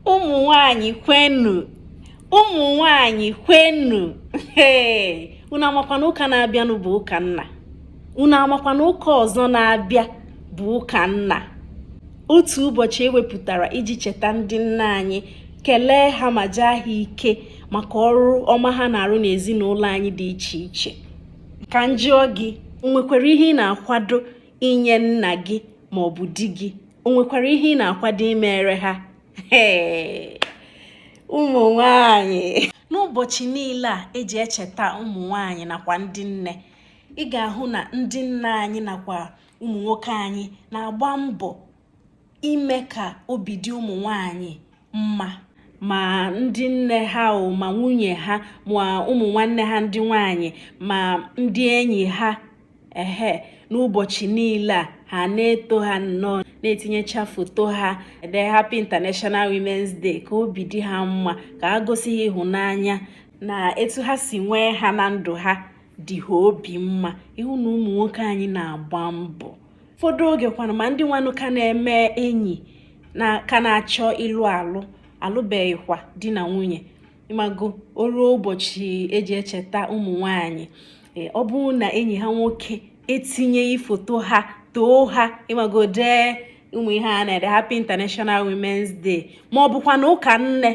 ụmụ nwanyị kwenu ụmụ nwanyị kwenu unu amakwa na ụka na-abịanụ bụ ụka nna unu amakwa na ụka ọzọ na-abịa bụ ụka nna otu ụbọchị e wepụtara iji cheta ndị nna anyị kelee ha ma jaa ha ike maka ọrụ ọma ha na-arụ n'ezinụlọ anyị dị iche iche ka m jụọ gị o nwekwara ihe ị na-akwado inye nna gị ma ọ bụ di gị o nwekwara ihe ị na-akwado imere ha ụmụ nwanyị n'ụbọchị niile a eji echeta ụmụ nwanyị nakwa ndị nne ị ga-ahụ na ndị nna anyị nakwa ụmụ nwoke anyị na-agba mbọ ime ka obi dị ụmụ nwanyị mma ma ndị nne ha o ma nwunye ha ma ụmụ nwanne ha ndị nwanyị ma ndị enyi ha ehe n'ụbọchị niile a ha na-eto ha nnọọ na-etinyecha foto ha ede happy international women's day ka obi dị ha mma ka ha gosi ha ịhụnanya na etu ha si nwee ha na ndụ ha dị ha obi mma ị hụ na ụmụ nwoke anyị na-agba mbọ ụfọdụ oge kwana ma ndị nwanụ ka na-eme enyi na ka na-achọ ịlụ alụ alụbeghịkwa di na nwunye ịmago o ruo ụbọchị eji echeta ụmụ nwanyị e, ọ bụrụ na enyi ha nwoke etinyeghị foto ha too ha ịmago dee ụmụ ihe a na-ede Happy International Women's Day ma ọ bụkwa na ụka nne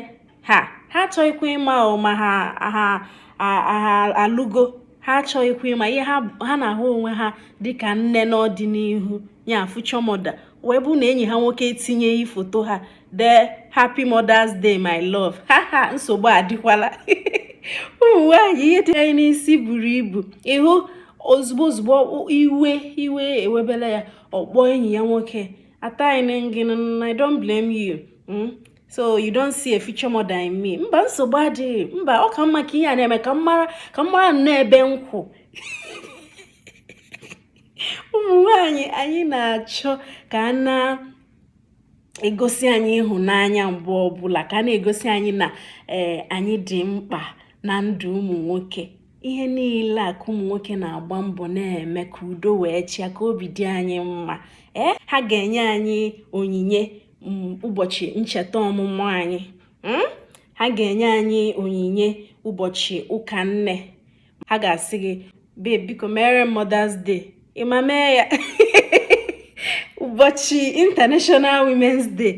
ha ha achọghịkwa ịma ma ha ha ha alụgo ha achọghịkwa ịma ihe ha na-ahụ onwe ha dịka nne n'ọdịnihu ya future mother wee bụ na enyi ha nwoke etinyeghị foto ha dee happy mother's day my love ha ha nsogbu adịkwala ụmụ nwaanyị ihe dị anyị n'isi buru ibu ịhụ ozugbo ozugbo iwe iwe ewebela ya ọ kpọọ enyi ya nwoke ataghịnụ m gị na I don't blame you hmm? so you don't see a future mother in me mba nsogbu adịghị mba ọ ka mma ka ihe a na-eme ka m mara ka m mara nnọọ ebe m kwụ ụmụ nwanyị anyị na-achọ ka a na-egosi anyị ịhụnanya mgbe ọbụla ka a na-egosi anyị na eh, anyị dị mkpa na ndụ ụmụ nwoke ihe niile a ka ụmụ nwoke na-agba mbọ na-eme ka udo wee chịa ka obi dị anyị mma ee eh, ha ga-enye anyị onyinye mm, ụbọchị ncheta ọmụmụ anyị hmm? ha ga-enye anyị onyinye ụbọchị ụka nne ha ga-asị gị babe biko mere Mother's Day ịma mee ya ụbọchị International Women's Day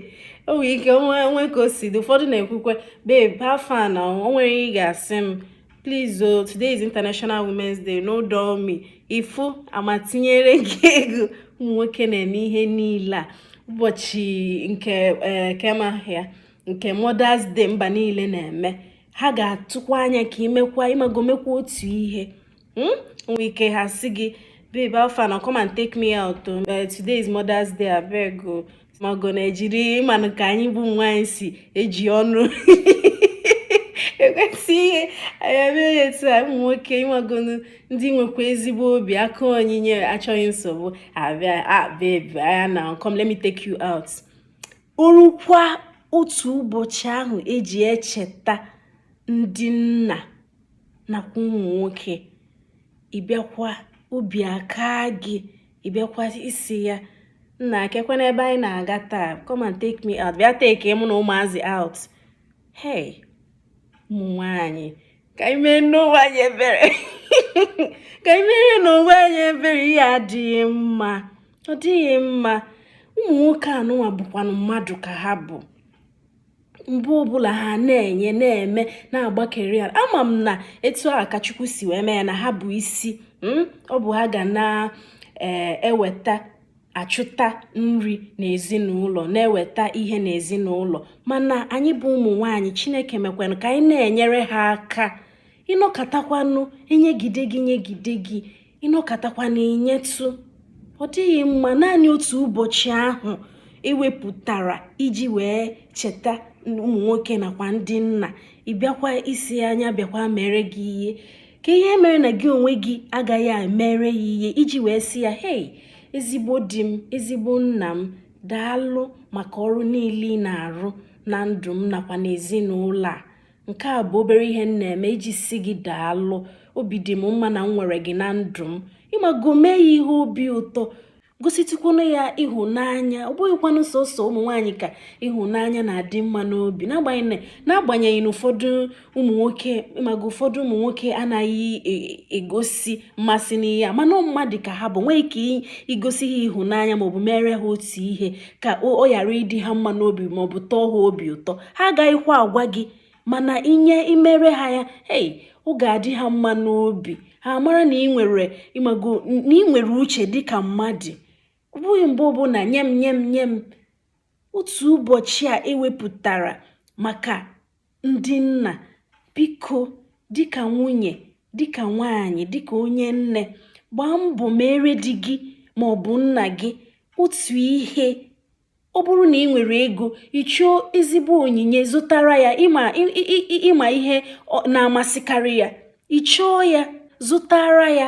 o nwere ike o nwee ka o si dị ụfọdụ na-ekwukwe babe how far na o nwere ị ga-asị m please o oh, today is international women's day no dull me ifu amatinyere gị ego ụmụ nwoke na-eme ihe niile a ụbọchị nke eh, kee maka nke mothers day mba niile na-eme ha ga-atụkwa anya ka imekwa ịmago mekwa otu ihe hmm? nwee ike ha sị gị babe how far na come and take me out oh. eh, today is mothers day abeg o oh. mago na ejiri ịmanụ ka anyị bụ nwaanyị si eji ọnụ ekwusi ihe anyị emee ya etu a ụmụ nwoke ịmagonu ndị nwekwa ezigbo obi aka onyinye achọghị nsogbu abịa ah baby ah, oya na come let me take you out orukwa otu ụbọchị ahụ eji echeta ndị nna nakwa ụmụ nwoke ịbịakwa obi aka gị ị bịakwa ịsị ya nnaa kekwanụ ebe anyị na-aga taa come and take me out bịa take mụ na ụmụazị out hey ụmụ nwaanyị ka anyị meenụ onwe anyị ebere ka anyị merenụ onwe anyị ebere ihe a adịghị mma ọ dịghị mma ụmụ nwoke anụnwa bụkwanụ mmadụ ka ha bụ mgbe ọbụla ha na-enye na-eme na-agbakeri ya ama m na etu a ka chukwu si wee mee ya na ha bụ isi hmm? ọ bụ ha ga na-eweta eh, achụta nri n'ezinụlọ na-eweta ihe n'ezinụlọ mana anyị bụ ụmụ nwaanyị chineke mekwanụ ka anyị na-enyere ha aka ịnọkatakwanụ enyegide gị nyegide gị ịnọkatakwa na inyetụ ọ dịghị mma naanị otu ụbọchị ahụ ewepụtara iji wee cheta ụmụ nwoke nakwa ndị nna ịbịakwa ịsị ya bịakwa mere gị ihe kee ihe mere na gị onwe gị agaghị emere ya ihe iji wee sị ya hei ezigbo di m ezigbo nna m daalụ maka ọrụ niile ị na-arụ na ndụ m nakwa n'ezinụlọ a nke a bụ obere ihe m na-eme iji sị gị daalụ obi dị m mma na m nwere gị na ndụ m ịmago mee ya ihe obi ụtọ gositụkwanụ ya ịhụnanya ọ bụghịkwanụ sọsọ ụmụ nwaanyị ka ịhụnanya na-adị mma n'obi n'agbanyeghị na ụfọdụ ụmụ nwoke mago ụfọdụ ụmụ nwoke anaghị e, egosi mmasị n'ihe a mana mmadụ ka ha bụ nwee ike igosi ha ịhụnanya maọbụ mere ha otu ihe ka ọ ghara ịdị ha mma n'obi maọbụ tọọ ha obi ụtọ ha agaghịkwa agwa gị mana inye imere ha ya ei ọ ga-adị ha mma n'obi ha mara na ị nwere ịmago na ị nwere uche dịka mmadụ ọ bụghị mgbe ọbụla nye m nye m nye m otu ụbọchị a ewepụtara maka ndị nna biko dịka nwunye dịka nwaanyị dịka onye nne gbaa mbọ mere di gị ma ọ bụ nna gị otu ihe ọ bụrụ na ị nwere ego ị chọọ ezigbo onyinye zụtara ya ịma ịma ihe na-amasịkarị ya ị chọọ ya zụtara ya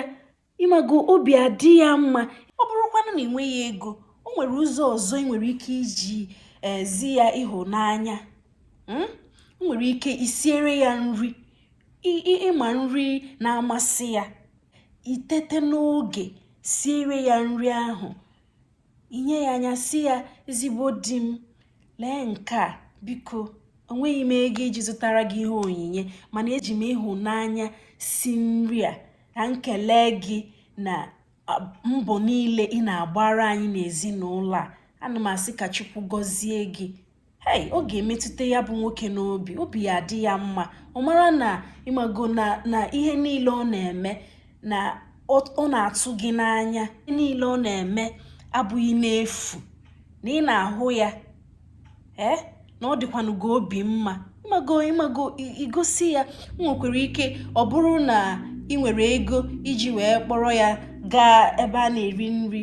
ịmago obi adị ya mma ọ bụrụkwanụ na ị nweghị ego o nwere ụzọ ọzọ ị nwere ike iji ezi eh, ya ịhụnanya hmm? o nwere ike isiere ya nri ịma nri na-amasị ya itete n'oge siere ya nri ahụ inye ya anya sị ya ezigbo di m lee nke a biko onweghị m ego iji zụtara gị ihe onyinye mana eji m ịhụnanya si nri a ka m kelee gị na mbọ niile ị na-agbara anyị n'ezinụlọ a ana m asị ka chukwu gọzie gị hei ọ ga-emetụta ya bụ nwoke n'obi obi ya adị ya mma ọ mara na ịmago na na ihe niile ọ na-eme na ọ na-atụ gị n'anya niile ọ na-eme abụghị n'efu na ị na-ahụ ya ee eh? na ọ dịkwanụ gị obi mma ịmago ịmago igosi ya nwekwara ike ọ bụrụ na ị nwere ego iji wee kpọrọ ya gaa ebe a na-eri nri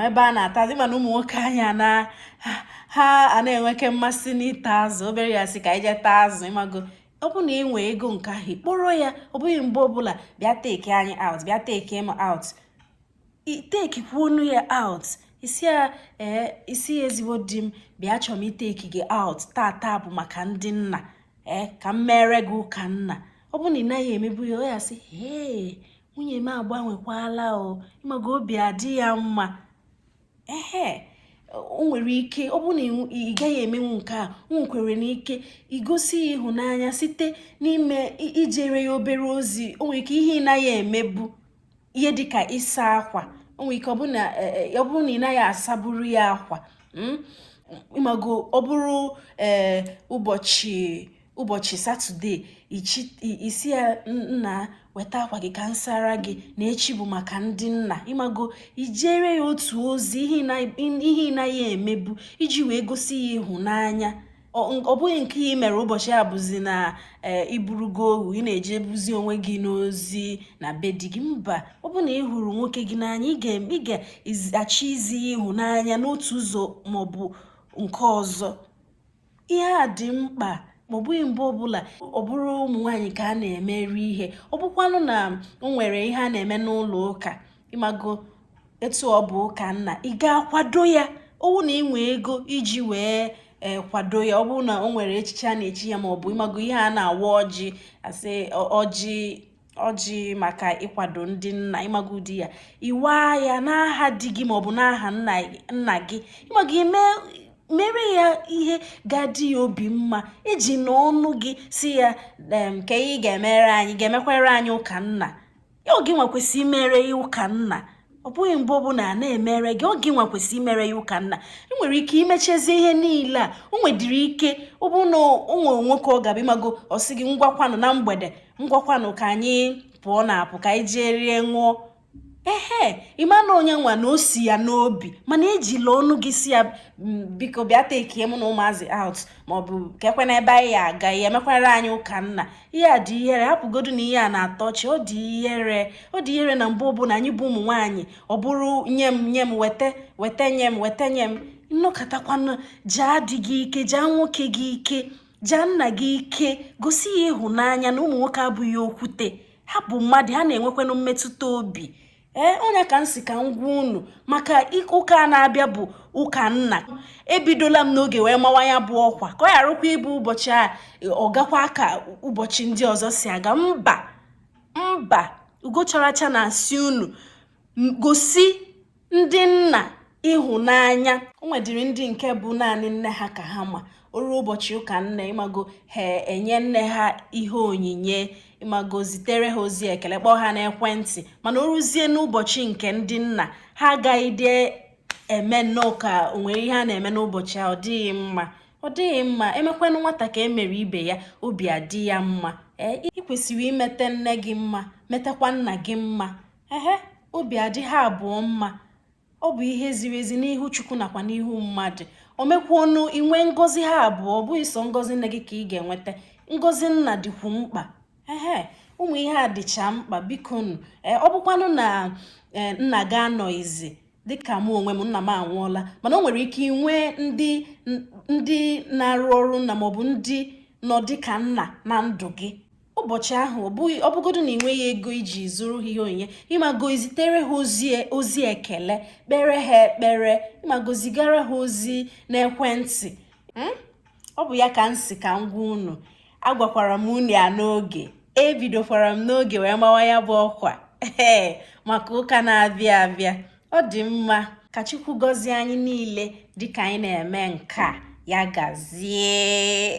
ebe a na-ata azụ mana ụmụ nwoke anyị na ha na-enweke mmasị n'ịta azụ obere ihe a sị ka anyị jee taa azụ ịmago ọ bụ na ị nwee ego nke ahụ kpọrọ ya ọ bụghị mgbe ọbụla bịa take anyị out bịa take m out ị take kwanụ ya out ị sị ya ee ị sị ya ezigbo di m bịa achọọ m ị take gị out tata bụ maka ndị nna ee ka m mere gị ụka nna ọ bụ na ị naghị emebu ya ọ ya-asị ee nwunye m agbanwekwala o ịmago obi adị ya mma ehe o nwere ike ọ bụrụ na ị gaghị emenwu nke a o nwekwaranụ ike igosi ya ịhụnanya site n'ime ijere ya obere ozi o nwere ike ihe ị naghị emebu ihe dịka ịsa akwa o nwere ike ọ bụrụ na e, e, ị naghị asaburu ya akwa hmm? ịmago ọ bụrụ ee eh, ụbọchị ụbọchị satọde ị sị ya nna weta akwa gị ka m sara gị na echi bụ maka ndị nna ịmago ijere ya otu ozi ihe ị naghị emebu iji wee gosi ya ịhụnanya ọ bụghị nke ị mere ụbọchị a bụzi na e, ị bụrụgo ohu ị na-ejegbuzi onwe gị n'ozi na be di gị mba ọ bụ na ị hụrụ nwoke gị n'anya ị ga-achọ izi ya ịhụnanya n'otu ụzọ maọbụ nke ọzọ ihe a dị mkpa ma ọ bụghị mgbe ọbụla ọ bụrụ ụmụ nwaanyị ka a na-emere ihe ọ bụkwanụ na o nwere ihe a na-eme n'ụlọ ụka ịmago etu ọ bụ ụka nna ị ga-akwado ya owu na i nwe ego iji wee e, kwado ya ọ bụrụ na o nwere echichi a na-echi ya ma ọ bụ ịmago ihe a na-awa ọjị asị ọjị ọjị maka ịkwado ndị nna ịmago di ya ịwa ya n'aha di gị maọbụ n'aha nna gị ịmago ime mere ya ihe ga-adị ya obi mma ejina ọnụ gị sị ya nke ị ga-emere anyị ga-emekwere anyị ụka nna ọ gị nwa kwesịrị imere ya ụka nna ọ bụghị mgbe ọbụla na-emere gị ọ gị nwa kwesịrị imere ya ụka nna ị nwere ike imechezi ihe niile a o nwedịrị ike ọ bụrụ na onwe nwoke ọ gaba ịmago ọ sị gị ngwakwanụ na mgbede ngwakwanụ ka anyị pụọnụ apụ ka anyị jee rie ṅụọ ehe ịma na ọ ya nwa na o si ya n'obi mana ejila ọnụ gị sị ya mm, biko bịa takie mụ na ụmụazị out maọbụ keekwanụ ebe anyị aga ị ya-emekwara anyị ụka nna ihe a dị ihere hapụgodu na ihe a na-atọ ọchị ọ dị ihere ọ dị ihere na mgbe ọbụla anyị bụ ụmụ nwaanyị ọ bụrụ nye m nye m weta weta nye m weta nye m nọkatakwanụ jaa di gị ike jaa nwoke gị ike jaa nna gị ike gosi ya ịhụnanya na ụmụ nwoke abụghị okwute ha bụ mmadụ ha na-enwekwanụ mmetụta obi ee ọ ya ka m sị ka m gwa unu maka ụka a na-abịa bụ ụka nna ebidola m n'oge wee mawa ya bụ ọkwa ka ọ gharakwa ịbụ ụbọchị a ọ gakwa ka ụbọchị ndị ọzọ si aga mba mba Ugocharacha na-asị unu gosi ndị nna ịhụnanya o nwedịrị ndị nke bụ naanị nne ha ka ha ma o ruo ụbọchị ụka nne ịmago ha enye nne ha ihe onyinye ịmago zitere ha ozi ekele kpọọ ha n'ekwentị mana o ruzie n'ụbọchị nke ndị nna ha agaghịdị eme nnọọ ka o nwere ihe a na-eme n'ụbọchị a ọ dịghị mma ọ dịghị mma e mekwanụ nwata ka e mere ibe ya obi adị ya mma ee ị kwesịrị imete nne gị mma metakwa nna gị mma ehe obi adị ha abụọ mma ọ bụ ihe ziri ezi n'ihu Chukwu nakwa n'ihu mmadụ o mekwanụ i nwee ngọzi ha abụọ ọ bụghị sọ ngọzi nne gị ka ị ga-enweta ngọzi nna dịkwu mkpa ehe ụmụ ihe a dịcha mkpa bikonụ e, ọ bụkwanụ na e, nna gị anọghịzi dịka mụ onwe m nna m anwụọla mana o nwere ike inwe ndị ndị na-arụ ọrụ nna maọbụ ndị nọ dịka nna na ndụ gị ụbọchị ahụ ọ bụghị ọ bụgodu na i nweghị ego iji zụrụ ha ihe onyinye ịmago zitere ha ozi e, ozi ekele kpere ha ekpere ịmago zigara ha ozi n'ekwentị hmm? ọ bụ ya ka m sị ka m gwa unu agwakwara m unu ya n'oge ebidokwara m n'oge wee mawa ya bụ ọkwa ee maka ụka na-abịa abịa ọ dị mma ka Chukwu gọzie anyị niile dịka anyị na-eme nke a ya gazie